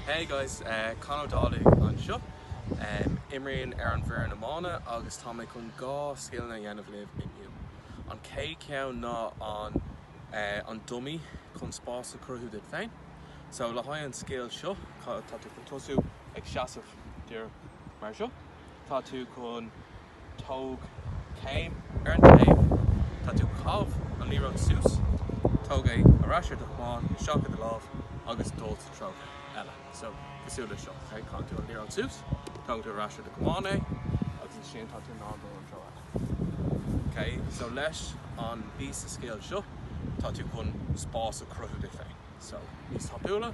Hey guys, Conor Dálaigh anseo. Imrím ar an bhfoireann iomána agus tá mé chun dhá scileanna a dhéanamh libh inniu. An chéad cheann ná an an dummy chun spás a chruthú duit féin. So le haghaidh an scil seo tá tú chun tosú ag seasamh díreach mar seo. Tá tú chun. Tóg céim ar an taobh. Tá tú chun an liathróid suas. Tóg é ar ais ar do chamán isteach i do lámh agus dul sa treo eile. So, cosúil le seo. Ok, Caitheann tú an liathróid suas, tógann tú ar ais ar do chamán é agus ansin tá tú in ann dul an treo eile. Ok, so leis an bpíosa scil seo, tá tú chun spás a chruthú duit féin. So, níos tapúla.